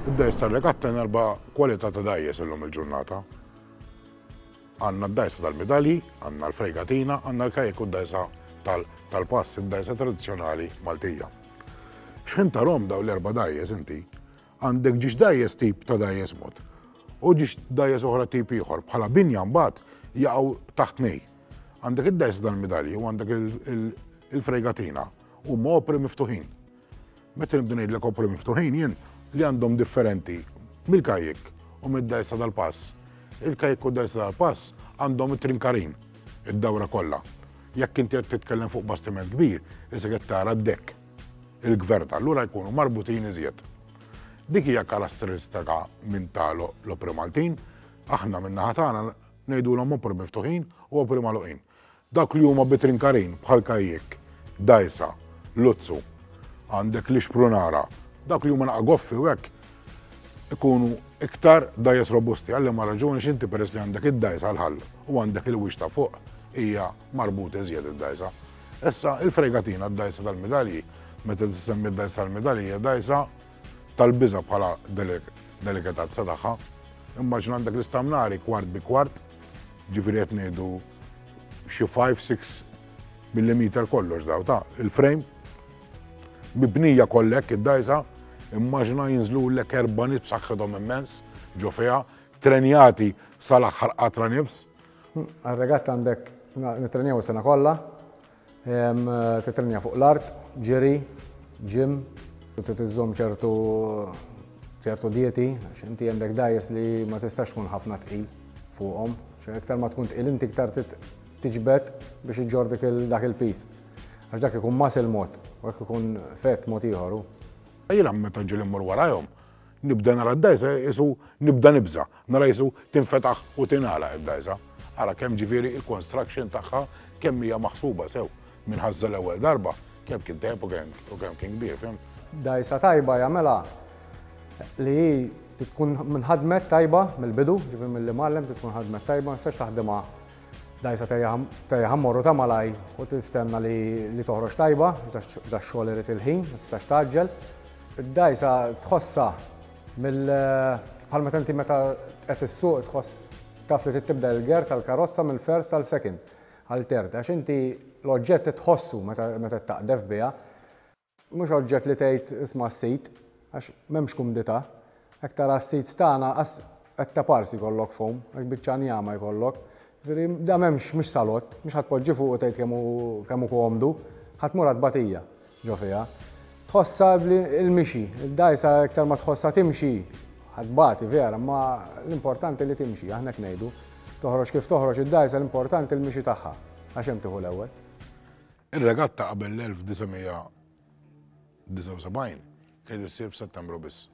Id-dgħajjes tar-regatta ngħarba kwalità ta' dgħajjes illum il-ġurnata. Għandna d-dgħajsa tal-midalji, għandna l-fregatina, għandna l-kajek u d-dgħajsa tal-pass, id-dgħajsa tradizzjonali Maltija. Xħin tarom daw l-erba' dgħajjes inti, għandek ġiex dgħajjes tip ta' dgħajjes mod u ġiex dgħajjes oħra tip ieħor bħala binja mbagħad jaqgħu taħt nej. Għandek id-dgħajsa tal-midalji u għandek il-fregatina. Huma opri miftuħin. Meta nibda ngħidlek opri miftuħin jien li għandhom differenti mill-kajjik u mid-dgħajsa tal-pass. Il-kajjik u d-dgħajsa tal-pass għandhom it-trinkarin, id-dawra kollha. Jekk inti qed titkellem fuq bastiment kbir, isek qed tara d-dekk, il-gvert, allura jkunu marbutin iżjed. Dik hija karatteristika minn ta' l-opri Maltin, aħna min-naħa tagħna ngħidulhom opri miftuħin u opri magħluqin. Dawk li huma bitrinkarin bħal kajjikk, dgħajsa, luzzu, għandek l-ixprunara, dawk li huma naqra goffi u hekk ikunu iktar dgħajjes robusti għal liema raġuni għax inti peress li għandek id-dgħajsa għal ħall u għandek il-wiċċ ta' fuq hija marbuta iżjed id-dgħajsa. Issa il-fregatina d-dgħajsa tal-midalji meta tissemmi d-dgħajsa tal-midalji hija dgħajsa tal-biża bħala delikatazza tagħha. Immaġina għandek l-istamnari kwart bi kwart Ġifieri qed ngħidu xi 5-6 millimeter kollox daw ta' il-frame. Mibnija kollek id-dajsa, immaġna jinżlu l-ek erba nit saħħithom immens, ġo fiha, trenjati sal-aħħar qatra nifs. Għal-regatta għandek nitrenjaw sena kollha, Titrenja fuq l-art, ġiri, gym, u trid iżżomm ċertu ċertu dieti, għax inti għandek dajes li ma tistax tkun ħafna tqil fuqhom. Iktar ma tkun tqil inti iktar tiġbed biex iġġor dak il-pis. Għax dak ikun muscle mod, u hekk ikun fett mod ieħor. Jiena meta ġieli mmur warajhom, Nibda nara d-dgħajsa qisu nibda nibża', nara qisu tinfetaħ u tingħalaq id-dgħajsa. Ara kemm ġifieri il-construction tagħha kemm hija maħsuba sew minn ħażża l-ewwel darba, kemm kien tajjeb u kemm u kemm kien kbir, fim? Dgħajsa tajba jagħmilha li hi trid tkun minħadmet tajba mill-bidu, ġifieri milli mgħallem trid tkun ħadmet tajba, ma tistax taħdimha dgħajsa tejjaħha mmorru ta' malaj u tistenna li toħroġ tajba, dax-xogħol irid il-ħin, ma tistax tgħaġġel. Id-dgħajsa tħossha mill bħal meta inti meta qed issuq tħoss taf li tibda l-ger tal-karozza minn first għal second għal third għax inti l-oġġett tħossu meta taqdef biha. Mhux oġġett li tgħid isma' s-sit għax m'hemmx kumdità. Hekk tara s-seats tagħna qas qed taparsi jkollok foam, hekk biċċa njama jkollok. Ġifieri da m'hemmx mhux salott, mhux ħa tpoġġi fuq u tgħid kemm hu kemm hu komdu, ħa tmur għad tbatija ġo fiha. Tħossha li l-mixi, id-dgħajsa iktar ma tħossha timxi, ħa tbati vera imma l-importanti li timxi, aħna hekk ngħidu. Toħroġ kif toħroġ id-dgħajsa l-importanti l-mixi tagħha għax hemm tieħu l-ewwel. Ir-regatta qabel l-1900 79 kienet issir f'Settembru biss.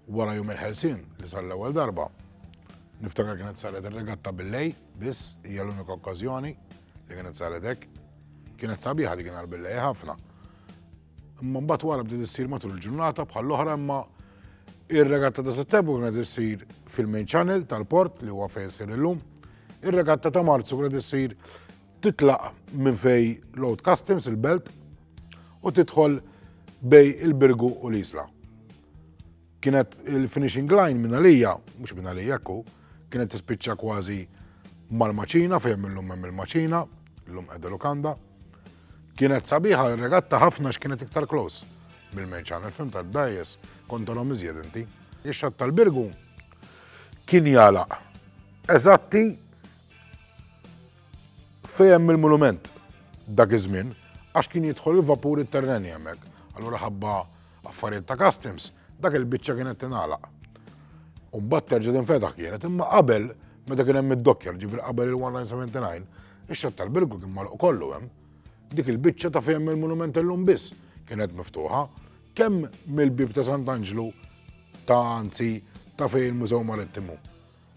Wara jum il-ħelsien li sar l-ewwel darba, niftakar kienet saret ir-regatta bil-lej biss hija l-unika okkażjoni li kienet saret hekk. Kienet sabiħa dik nhar bil-lej ħafna. Imma mbagħad wara bdiet issir matul il-ġurnata bħall-oħra imma ir-regatta ta' Settembru kienet issir fil-main channel tal-port li huwa fejn issir illum. Ir-regatta ta' Marzu kienet issir Titlaq minn fej Road Customs il-Belt u tidħol bej il-Birgu u l-Isla. Kienet il-finishing line minn għalija, mhux minn għalija ku, kienet tispiċċa kważi mal-maċina fejn illum hemm il-maċina, illum qiegħda lukanda. Kienet sabiħa regatta ħafna x'kienet iktar close mill-menċan, il-fim ta' dajes kontorom iżjed inti. Ix-xatt tal-birgu kien jala eżatti Fejn hemm il-mulument dak iż-żmien għax kien jidħol il-vapur it-terreni hemmhekk. Allura ħabba affarijiet ta' customs dak il-biċċa kienet tingħalaq. U mbagħad terġa' tinfetaħ kienet imma qabel meta kien hemm id-dokkjar ġifier qabel il-1979 ix-xatt tal-Birgu kien magħluq kollu hemm. Dik il-biċċa ta' fejn hemm il-mulument illum biss kienet miftuħa kemm mill-bieb ta' Sant'Anġlu ta' anzi ta' fejn il-Mużew Marittimu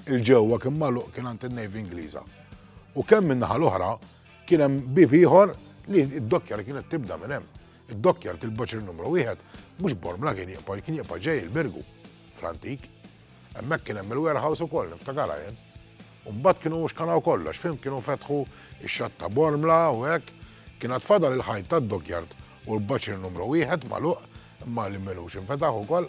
'l ġewwa kien magħluq kien għand in-Navy Ingliża. U kemm min-naħa l-oħra kien hemm bieb ieħor li d-dokkjar kienet tibda minn hemm. Id-dokkjar il-boċri numru wieħed mhux Bormla kien jibqa' kien jibqa' ġej il-Birgu fl-antik. Hemmhekk kien hemm il-warehouse ukoll niftakarha jien. Mbagħad kienu mhux kanaw kollox, fim kienu fetħu x-xatt ta' Bormla u hekk. Kien għad fadal il-ħajt tad-dokkjard u l-boċri numru wieħed magħluq imma li minux infetaħ ukoll.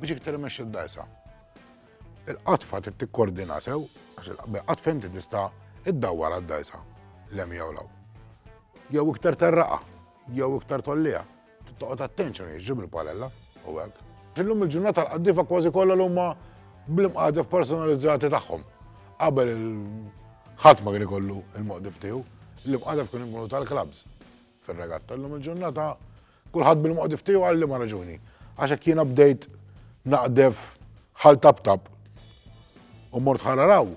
Biex iktar imexxi d-dgħajsa. Il-qatfa trid tikkordina sew għax il-qatfa inti tista' iddawwar għad-dgħajsa lem jew law. Jew iktar terraqa, jew iktar tollija. Toqgħod attenzjoni ġib il-palella u hekk. Illum il-ġurnata l-qaddifa kważi kollha l huma bl-imqadef personalizzati tagħhom. Qabel il-ħadd ma kien ikollu il-moqdif tiegħu, l-imqadef kien ikunu tal-klabs fir-regatta. Illum il-ġurnata Kulħadd bil-moqdif tiegħu għal liema raġuni. Għax hekk jiena bdejt naqdef ħal tabtab u mort ħararaw,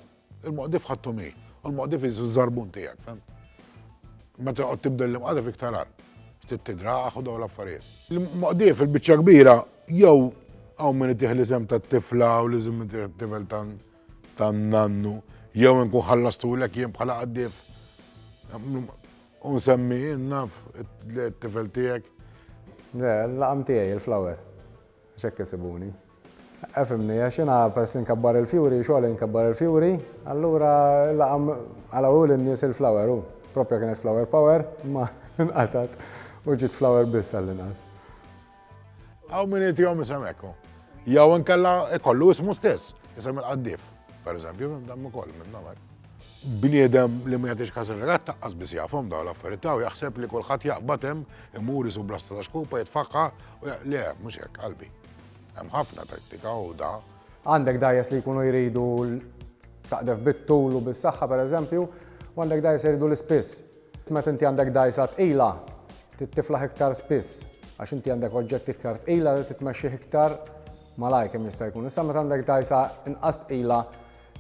il-moqdif ħattu mi, u l-moqdif jizu zarbun tijak, fem? Meta għod tibdel l-imqadif iktar għal, ftit tidra għaxu daw l-affarijiet. Il-moqdif il-bicċa kbira, jew għaw minn tiħ li sem ta' tifla u li zim tifel ta' nannu, jew nkun ħallastu l-ek jien bħala għaddif. U nsemmi naf t-tifel tiegħek? Le, l-laqam tiegħi, il-flower. X'hekk isibuni. Efhimni, għax jiena peress li nkabbar il-fjuri, xogħli nkabbar il-fjuri, allura l-laqam għala hu lin-nies il-flower hu. Proprja kienet flower power, imma nqatgħet u ġiet flower biss għall-inqas. Għaw min jitijom jisem ekku. Jaw nkella ikollu ismu stess, jisem il-qaddif, per eżempju, dammu koll minn namar. Bniedem li ma jatix kas il-regat taqqas bis jafom daw l-affarijiet u jaħseb li kulħadd jaqbad hemm imur isu blasta ta' xkupa jitfaqqa u le mhux hekk qalbi. Hemm ħafna tattika u da. Għandek dajes li jkunu jridu taqdef bit-tul u bis-saħħa pereżempju, u għandek dajes jridu l-ispiss. Meta inti għandek dgħajsa tqila, trid tiflaħ iktar spiss għax inti għandek oġġetti iktar tqila li trid tmexxih iktar malajr kemm jista' jkun. Issa meta għandek dgħajsa inqas tqila,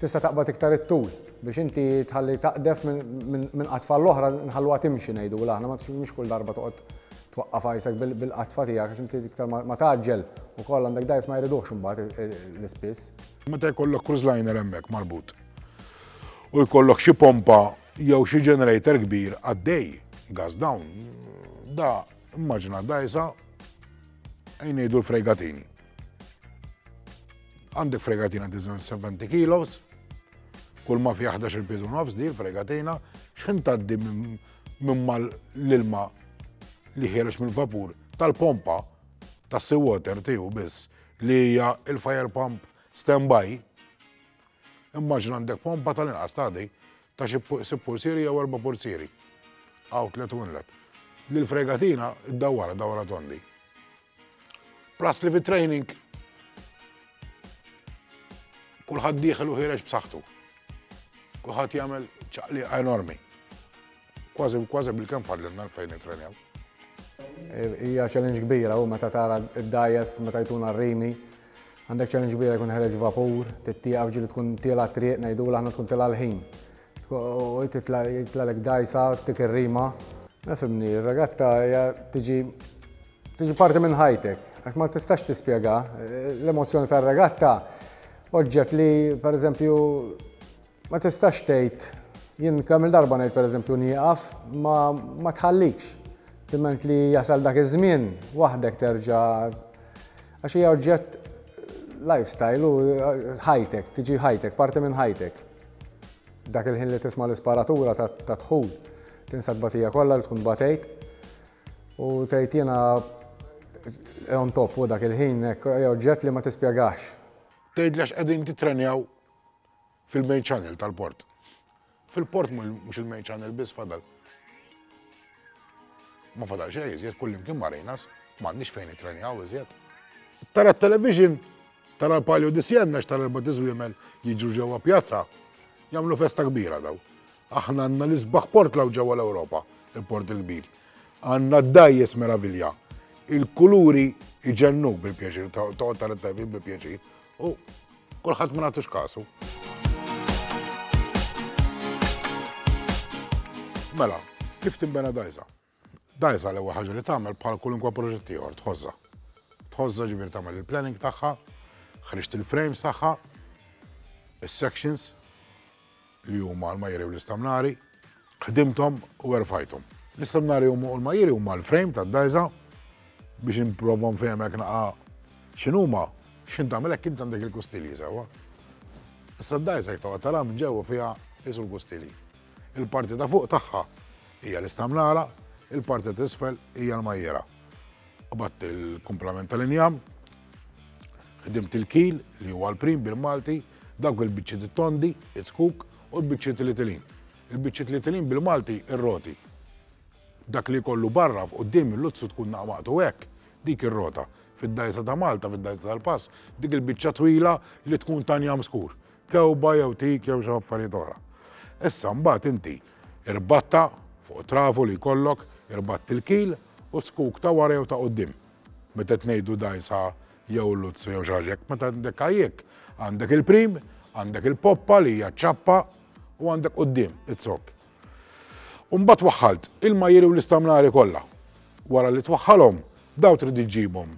tista' taqbad iktar it-tul biex inti tħalli taqdef minn qatfa għall-oħra, nħalluha timxi ngħidulha aħna, mhux kull darba toqgħod twaqqaf għajsek bil-qatfa tiegħek għax inti iktar ma tgħaġġel ukoll għandek dgħajs ma jridux imbagħad l-ispiss. Meta jkollok cruise liner hemmhekk marbut u jkollok xi pompa Jew xi generator kbir għaddej, gas down, da immaġina dajsa jnejdu l-fregatini. Għandek fregatina diżen 70 kilos, kull ma fi 11 il-pidu nofs di l-fregatina, xħin taddi minn mal l-ilma li ħierex mill-vapur tal-pompa tas seawater tiegħu biss li hija il-fire pump standby Immaġina għandek pompa tal-inqas tagħdi ta' xi sitt pulzieri jew erba' pulzieri, outlet u inlet, li l-fregatina ddawwara dawra tondi. Plus li fit-training kulħadd dieħel u ħireġ b'saħħtu. Kulħadd jagħmel ċaqliqa enormi. Kważi u kważi bil-kemm fadlilna l-fejn nitrenjaw. Hija challenge kbira u meta tara d-dajes meta jtuna r-rimi. Għandek challenge kbira jkun ħereġ vapur, tittieqaf ġili tkun tila triq ngħidu aħna tkun tila l-ħin. U jitlalek dajsa tik ir-rima. Nifhimni, ir-regatta hija tiġi tiġi parti minn ħajtek. Għax ma tistax tispjega l-emozzjoni tar-regatta oġġett li pereżempju Ma tistax tgħid, jien kemm-il darba ngħid pereżempju nieqaf, ma ma tħallikx. Timent li jasal dak iż-żmien, waħdek terġa' għax hija oġġett lifestyle u ħajtek, tiġi ħajtek, parti minn ħajtek. Dak il-ħin li tisma' l-isparatura ta' dħul, tinsa t-tbatija kollha li tkun batejt u tgħid jiena on top u dak il-ħin hekk hija oġġett li ma tispjegax. Tgħidli għax qegħdin tittrenjaw fil-main channel tal-port. Fil-port mhux il-main channel biss fadal. Ma fadal xejn iżjed kullimkien marinas, m'għandniex fejn nitrenjaw iżjed. Tara t-television, tara l-Palio di Sienna x'tara l-erba' tiżwiemel jiġu ġewwa pjazza, jagħmlu festa kbira daw. Aħna għandna l-isbaħ port law ġewwa l-Ewropa, il-port il-kbir. Għandna d-dajjes meravilja. Il-kuluri iġennu bil-pjaċir, toqgħod tara t-television bil-pjaċir, U kulħadd ma nagħtux kasu. Mela, kif timbena dajza? Dajza l-ewwel ħaġa li tagħmel bħal kulunkwa proġett ieħor tħożha. Tħożha ġifier tagħmel il-planning tagħha, ħriġt il-frames tagħha, is-sections, li huma l-majjeri u l-istamnari, ħdimthom u erfajthom. L-istamnari u l-majjeri huma l-frame tad-dgħajża biex improva nfehmek naqa' x'inhuma, x'int tagħmel hekk int għandek il-kustilji sewwa. Issa d-dgħajża jekk toqgħod tara minn ġewwa fiha qisu l-kustilji. Il-parti ta' fuq tagħha hija l-istamnara, il-parti ta' isfel hija l-majjera. U bat il-kumplament tal-injam, ħdimt il-kil li huwa l-prim bil-Malti, Dawk il-biċċiet it-tondi, iz-zkuk, u l-biċċiet ilitilin. Il-biċċiet ilitilin bil-Malti ir-roti. Dak li jkollu barra f'quddiem il-luzzu tkun naqmaqtu hekk, dik ir-rota. Fid-dgħajsa ta' Malta, fid-dgħajsa tal-pass, dik il-biċċa twila li tkun ta' njam skur. Kewba jew tik jew xi affarijiet oħra. Issa mbagħad inti irbatta fuq trafu li jkollok, irbatt il-kil u z-zkuk ta' wara jew ta' quddiem. Meta qed ngħidu dgħajsa jew luzzu jew xi ħaġa hekk, meta għandek kajjek, għandek il-prim, għandek il-poppa li hija ċappa u għandek quddiem it-zokk. Umbat waħħalt il-majjeri u l-istamnari kollha. Wara li twaħħalhom, daw trid iġġibhom.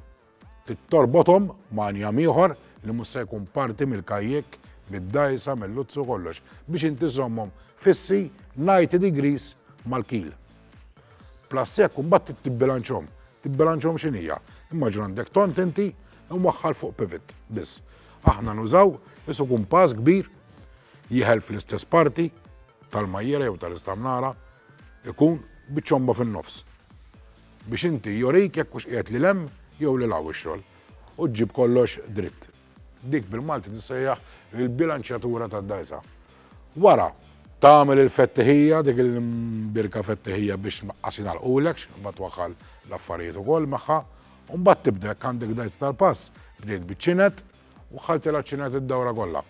Tittorbothom ma' njam ieħor li mhux se jkun parti mill-kajjek, mid-dajsa, mill-luzzu kollox biex inti żommhom fissi 90 degrees mal-kil. Plus jekk imbagħad trid tibbilanċhom. Tibbilanċhom x'in hija? Immaġina għandek tont inti u mwaħħal fuq pivot biss. Aħna nużaw isu kumpass kbir jiħel fl-istess parti tal-majjera jew tal-istamnara ikun biċomba fin-nofs. Biex inti jorik jekk hux qiegħed li lem jew li law ix-xogħol u ġġib kollox dritt. Dik bil-Malti tissejjaħ il-bilanċjatura tad-dgħajsa. Wara, tagħmel il-fettihija, dik il-birka fettihija biex tnaqqas jingħalqulek, ma twaħħal l-affarijiet ukoll magħha, u mbagħad tibda jekk għandek dgħajsa tal-pass, bdejt biċ-ċinet u ħaltilha ċinet id-dawra kollha.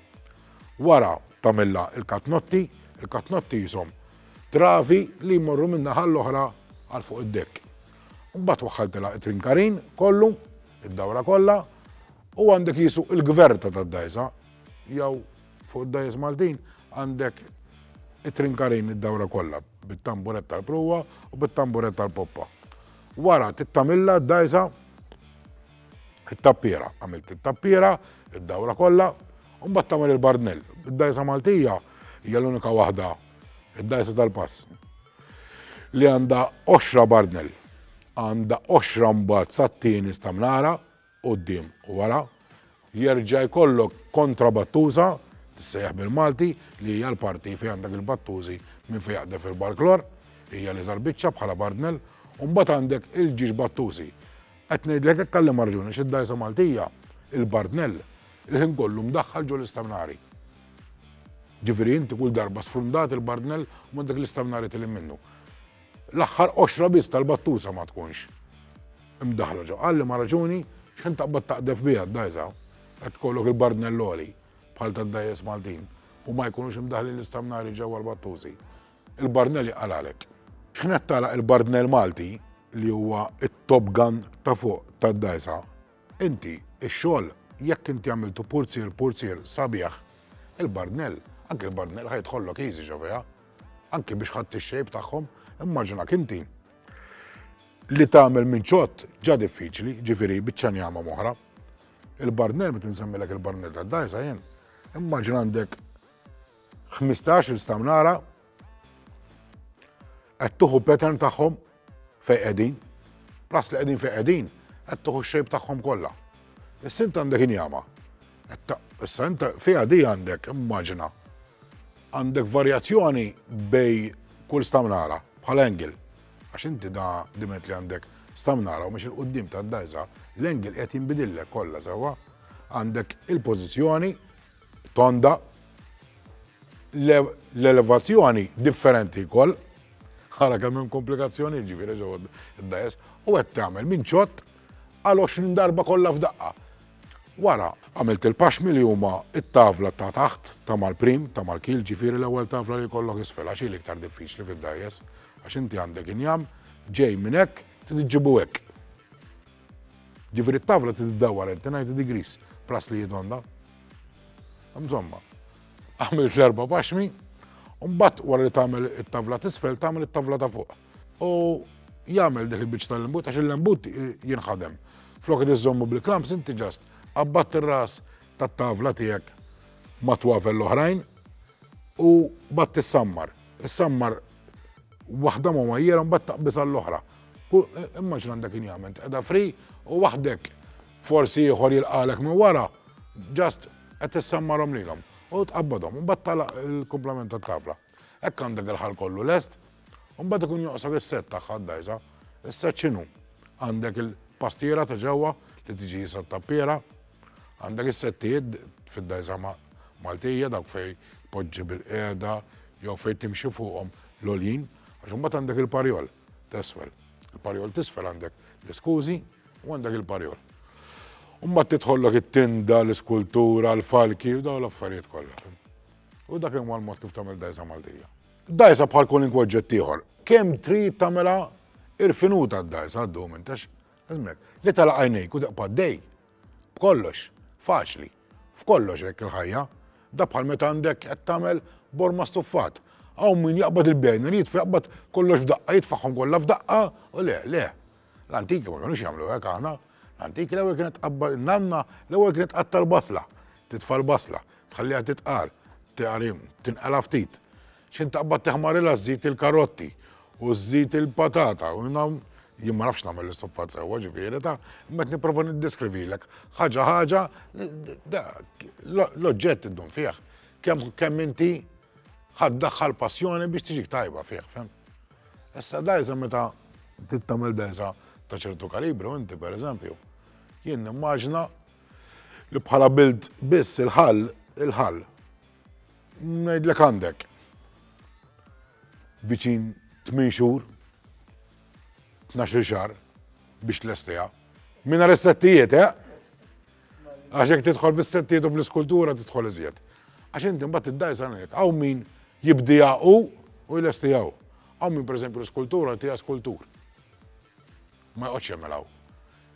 Wara tagħmilha il-katnotti, il-katnotti jisom travi li jmorru minna ħall-oħra għal fuq id-dekk. Mbagħad waħħaltilha it-trinkarin kollu Id-dawra kollha u għandek jisu il-gverta tad-dajsa jew fuq id-dajs Maltin għandek it-trinkarin id-dawra kollha bit-tamburet tal-pruwa u bit-tamburet tal-poppa. Wara tittamilla d-dajsa it-tappiera, għamilt it-tappiera, id-dawra kollha, u mbagħad tagħmel il-bardnell. Id-dajsa Maltija hija l-unika waħda id-dajsa tal-pass. li għandha għoxra barnel. Għandha għoxra mbagħad sat-tieni stamnara quddiem u wara. Jerġa' jkollok kontra battuża, tissejjaħ bil-Malti, li hija l-parti fejn għandek il-battużi minn fejn jaqdef il-barklor, hija li żarbiċċa bħala barnel, u mbagħad għandek il-ġiex battużi. Qed ngħidlek hekk għalli marġuni x'id-dajsa Maltija, il-barnel, il-ħin kollu mdaħħal ġol-istamnari. Ġifieri inti kull darba sfrundat il-bardnell u m'għandek l-istamnari tilin minnu. L-aħħar qoxra biss tal-battusa ma tkunx imdaħla ġo. Qalli ma raġuni x'ħin taqbad taqdef biha d-dgħajsa qed tkollok il-bardnell għoli bħal tad-dgħajjes Maltin u ma jkunux imdaħlin l-istamnari ġewwa l-battusi. Il-bardnell jaqalgħalek. X'ħin qed tagħlaq il-bardnell Malti li huwa t-top gun ta' fuq tad-dgħajsa, Inti, ix-xogħol, jekk inti għamiltu purzier, purzier sabiħ, il-barnell, anki l-barnell ħa jidħollok easy xofeha. Anki biex ħadt ix-shape tagħhom, immaġinak inti li tagħmel minn ċott ġa diffiċli, ġifieri biċċa njama moħra. Il-barnell meta nsemmilek il-barnell tad-dajsa jien, immaġina għandek 15 il-stamnara qed tuħu pattern tagħhom fejn qegħdin. Plus li qegħdin fejn qegħdin, qed tuħu x-shape tagħhom kollha. Issa int għandek injama. Issa int fiha di għandek, immaġina, għandek varjazzjoni bej kull stamnara bħal angle. Għax inti da dimet li għandek stamnara u mhux il-qudiem tad-dajza, l-angle qed jinbidillek kollha sewwa. Għandek il-pożizzjoni Tonda, Le, l-elevazzjoni differenti wkoll. Ara kemm hemm komplikazzjonijiet ġifieri ġewwa d-dgħajjes. U qed tagħmel minn ċott għal 20 darba kollha f'daqqa. Wara, għamilt il-paxmi li huma t-tavla ta' taħt, ta' mal-prim, ta' mal-keel ġifieri l-ewwel tavla li jkollok isfel għax hi l-iktar diffiċli fid-dgħajjes għax inti għandek injam ġej minn hekk trid iġġibu hekk. Ġifieri t-tavla trid iddawwar għal 90 degrees plus li jidonda. Insomma, għamilt l-erba' paxmi, u mbagħad wara li tagħmel it-tavla t'isfel tagħmel it-tavla ta' fuq. U jagħmel dik il-biċċa tal-lembut għax il-lembut jinħadem. Flok qed iżommu bil-klamps inti ġast qabbad ir-ras tat-tavla tiegħek mat-twavel l-oħrajn u batti ssammar. Issammar Waħda ma majjera mbagħad taqbiż għall-oħra. Immaġina għandek injament qiegħda free u waħdek forsi ieħor jilqalek minn wara, just qed tissammarhom lilhom u tqabbadhom, mbagħad tala il-kumplament tat-tavla. Hekk għandek il-ħal kollu lest, u mbagħad ikun joqsok is-set tagħha d-dajsa. Is-set x'inhu? Għandek il-pastiera ta' ġewwa li tiġi jisa tappiera Għandek is-settijiet fid-dajżama Maltija dawk fej poġġi bil-qiegħda jew fejn timxi fuqhom l-olin, għax imbagħad għandek il-parjol tesfel. Il-parjol tisfel għandek l-iskużi u għandek il-parjol. Umma titħollok it-tinda, l-iskultura, l-falki, u daw l-affarijiet kollha. U dak imma l-mod kif tagħmel dajsa Maltija. Dajsa bħal kull inkwoġġett ieħor. Kemm trid tagħmilha irfinuta d-dajsa għaddu minn tax Żmien. Li tagħlaq għajnejk u teqpa' ddej. B'kollox. Faċli. F'kollox hekk il-ħajja. Da bħal meta għandek qed tagħmel borma stuffat. Hawn min jaqbad il-bejner, jitfa' jaqbad kollox f'daqqa, jitfagħhom kollha f'daqqa, u le, le. L-antiki ma kinux jagħmlu hekk aħna. L-antiki l-ewwel kienet tqabbad in-nanna, l-ewwel kienet tqatta' l-basla. Titfa' l-basla, tħalliha titqal, tgħarim, tinqala' ftit. X'ħin taqbad teħmarilha żżid il-karotti u żżid il-patata u nagħm jien ma nafx nagħmel is-suffat sewwa ġifieri ta' imma qed nipprova niddeskrivilek ħaġa ħaġa l-oġġett iddum fih kemm kemm inti ħadd daħħal passjoni biex tiġik tajba fih, fem? Issa dajsa meta tittamel dajsa ta' ċertu kalibru inti pereżempju, jien nimmaġna li bħala bild biss il-ħall il-ħall Ngħidlek għandek viċin 8 xhur, 12 xahar biex tlestiha. Minna is-settijiet, eh? Għax jekk tidħol bis-settijiet u bl-iskultura tidħol iżjed. Għax inti mbagħad id-dajs għandek hawn min jibdija u u jlestijaw. Hawn min pereżempju l-iskultura tiegħek skultur. Ma joqgħodx jagħmilha hu.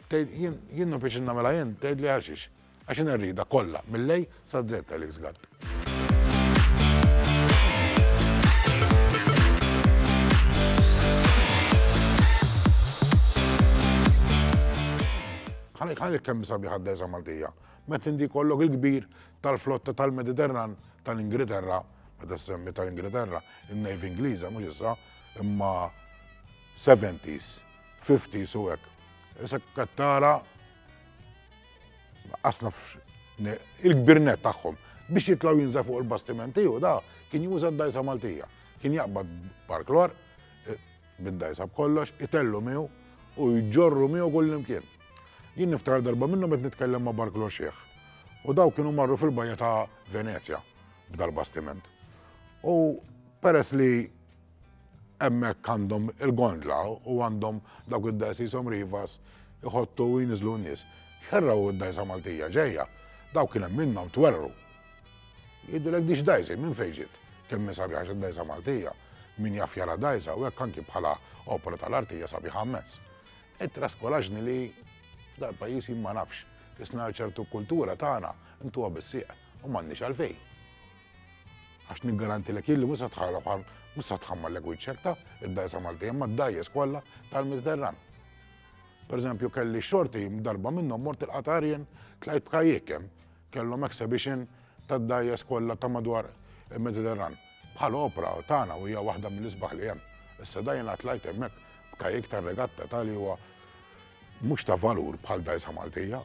Tgħid, jien, jien ma bqejtx innagħmilha jien, tgħidli għalxiex? Għax jien irridha kollha, mill-A sa Z għalik żgatt. Għalik, għalik kemm sabiħa d-dehża Maltija. Meta inti jkollok il-kbir tal-flotta tal-Mediterran tal-Ingilterra, meta semmi tal-Ingilterra, in-Navy Ingliża mhux issa, imma seventies, fifties u hekk. Issa qed tara qas nafx il-kbir net tagħhom biex jitlaw jinża fuq il-bastiment tiegħu da kien juża d-dajsa Maltija. Kien jaqbad parklor eh, bid-dajsa b'kollox, itellu miegħu u jġorru miegħu kull imkien. Jien niftakar darba minnhom qed nitkellem ma' Barklor Xieħ. U daw kienu marru fil-bajja ta' Venezja b'dal-bastiment. U peress li Hemmhekk għandhom il-gondla u għandhom dawk id-dajs li jisom rivas iħottu u jniżlu n-nies. Xerraw id-dajsa Maltija ġejja. Dawk kien hemm minnhom twerru. Jgħidulek dix dajsi minn fejn ġiet. Kemm minn sabiħa xi dajsa Maltija. Min jaf jara dajsa u hekk anki bħala opera tal-artija sabiħa mmens. Ittraskolaġni li f'dal pajjiż jien ma nafx. Isna ċertu kultura tagħna intuha bis-sieq u m'għandniex għalfejn. Għax niggarantilek jilli mhux se tħalla bħal mhux se tħammallek wiċċek ta' id-dajsa Malti imma d-dajjes kollha tal-Mediterran. Per eżempju, kelli xorti darba minnhom mort il-Qatarien tlajt b'kajjek hemm kellhom exhibition tad-dajjes kollha ta' madwar il-Mediterran. Bħal opera tagħna u hija waħda mill-isbaħ li hemm. Issa dajna tlajt hemmhekk b'kajjek tar-regatta tal huwa mhux ta' valur bħal dajsa Maltija,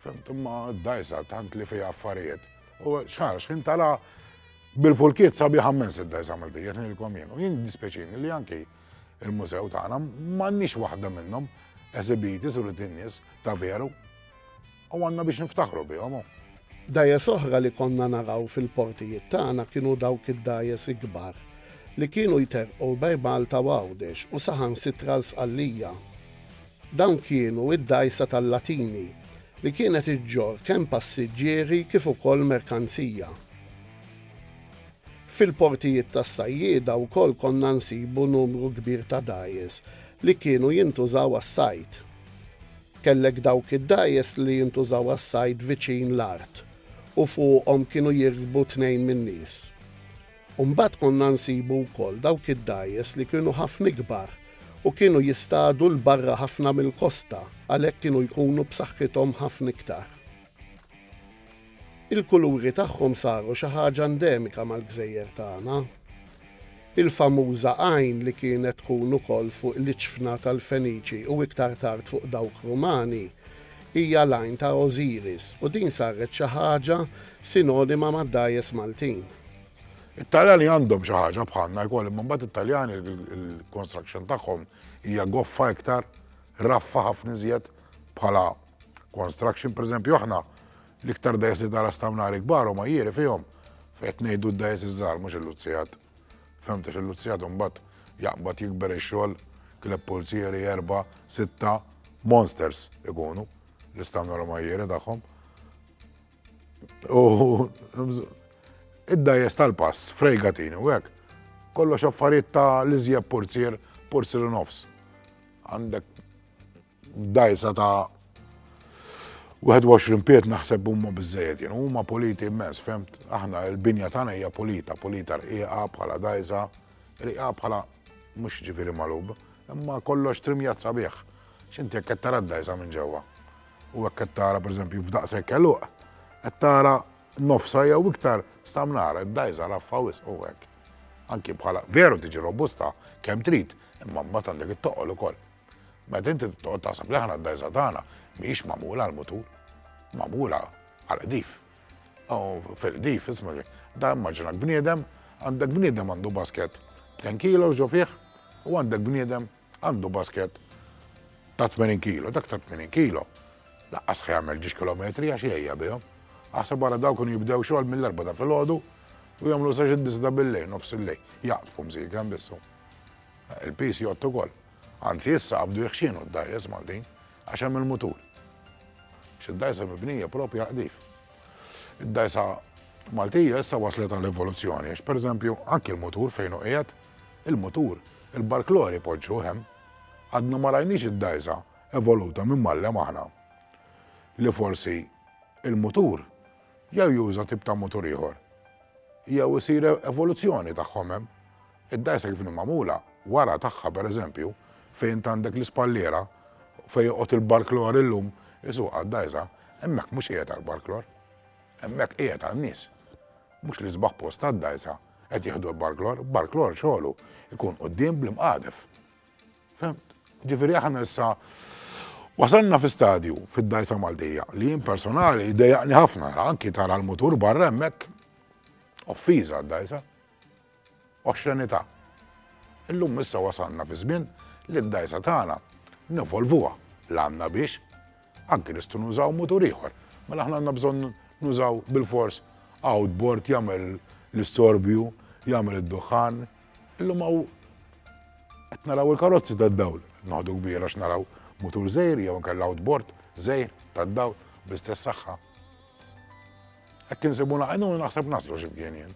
Fimt, imma d-dajsa tant li fija affarijiet. U xħar, xħin tara bil-fulkiet sabi ħammen sid-dajsa mal dijet nilkom jien. U jien dispeċin li anki il-mużew tagħna m'għandniex waħda minnhom eżibiti sur id-dinjes ta' veru. U għandna biex niftaħru bihom. Dajes oħra li konna naraw fil-portijiet tagħna kienu dawk id-dajes ikbar li kienu jterqu bej Malta u Għawdex u saħan sitra l-Sqallija Dawn kienu id-dgħajsa tal-Latini, li kienet iġġorr kemm passiġġieri kif ukoll merkanzija. Fil-portijiet tas-sajjieda wkoll konna nsibu numru kbir ta' dgħajjes li kienu jintużaw għas-sajd. Kellek dawk id-dgħajjes li jintużaw għas-sajd viċin l-art u fuqhom kienu jirkbu tnejn min-nies. U mbagħad konna nsibu wkoll dawk id-dgħajjes li kienu ħafna ikbar u kienu jistadu 'l barra ħafna mill-kosta, għalhekk kienu jkunu b'saħħithom ħafna iktar. Il-kuluri tagħhom saru xi ħaġa endemika mal-gżejjer tagħna. Il-famuża għajn li kienet tkun ukoll fuq l-iċfna tal-Feniċi u iktar tard fuq dawk Rumani hija l-għajn ta' Osiris u din saret xi ħaġa sinonima mad-dgħajjes Maltin. It-Taljani għandhom xi ħaġa bħalna wkoll, imma mbagħad it-Taljani il-construction tagħhom hija goffa iktar, raffa ħafna iżjed bħala construction, pereżempju aħna l-iktar dajs li tara stamnari kbar u ma jieri fihom fejt ngħidu d-dajs iż-żgħar mhux il-luzzijat. Femta xil-luzzijat mbagħad jaqbad jikber ix-xogħol kleb pulzieri erba' sitta monsters ikunu l-istamnar u ma jieri tagħhom. U id-dajes tal-pass, frejgatini u hekk. Kollox affarijiet ta' l-iżjeb porzier, porzier nofs. Għandek dajsa ta' 21 piet naħseb huma biżejjed, jien huma politi immens, femt, aħna l-binja tagħna hija polita, polita rqiqa bħala dajsa, rqiqa bħala mhux ġifieri malub, imma kollox trimjat sabiħ. X'inti jekk qed tara d-dajsa minn ġewwa. u hekk qed tara pereżempju f'daqshekk eluq, qed tara nofsa jew iktar stamnara, dajża raffa wisq u hekk. Anki bħala veru tiġi robusta kemm trid, imma mbagħad għandek it-toqol ukoll. Meta inti toqgħod taħseb li aħna d-dajża tagħna mhijiex magħmula għal mutur, magħmula għal qdif. Fil-qdif, isma' da immaġinak bniedem, għandek bniedem għandu basket 10 kilo ġo fih u għandek bniedem Għandu basket ta' 80 kilo, dak ta' 80 kilo. Laqqas ħa jagħmel ġiex kilometri għax jgħejja bihom. Aħseb wara daw kun jibdew xogħol mill-erba' ta' filgħodu u jagħmlu sa xi disda bil-lejl, nofs il-lejl. Jaqtfu msik hemm bissu. Eh, Il-pis jgħottu kol. Anzi issa qabdu jħxinu d-dajjes Maltin għax hemm il-mutur. Xid-dajsa mibnija propju għaqdif. Id-dajsa Maltija issa waslet għal evoluzzjoni, għax per eżempju anki l-mutur fejn u qiegħed Il-mutur, il-barklore jpoġġuh hemm. Għadna ma rajniex id-dgħajsa evoluta minn mgħallem aħna. Li forsi il-mutur jew juża tip ta' mutur ieħor jew isir evoluzzjoni tagħhom hemm. Id-dgħajsa kif inhi magħmula, wara tagħha pereżempju, fejn int għandek l-ispalliera fejn joqgħod il-barklore illum isuq għad-dgħajsa, hemmhekk mhux qiegħed għall-barklore. Hemmhekk qiegħed għan-nies. Mhux l-isbaħ post għad-dgħajsa qed jieħdu l-barklor, barklor xogħlu jkun quddiem bl-imqadef. Femt? Ġifieri aħna issa Wasalna fi stadju fid-dajsa Maltija li jien personali dejaqni ħafna anki tara l-mutur barra hemmhekk offiża d-dajsa. Oxxenità. Illum issa wasalna fi żmien li d-dajsa tagħna nivolvuha l-għandna biex Anki nistgħu nużaw mutur ieħor. Mela aħna għandna bżonn nużaw bil-fors outboard jagħmel l-istorbju, jagħmel id-duħħan. Illum hawn qed naraw il-karozzi tad-dawl. Noħdu kbira x'naraw mutur żejr jew anke l-outboard żejr tad-dawl bl-istess saħħa. Hekk insibuna għajnuna naħseb naslu x'imkien jien.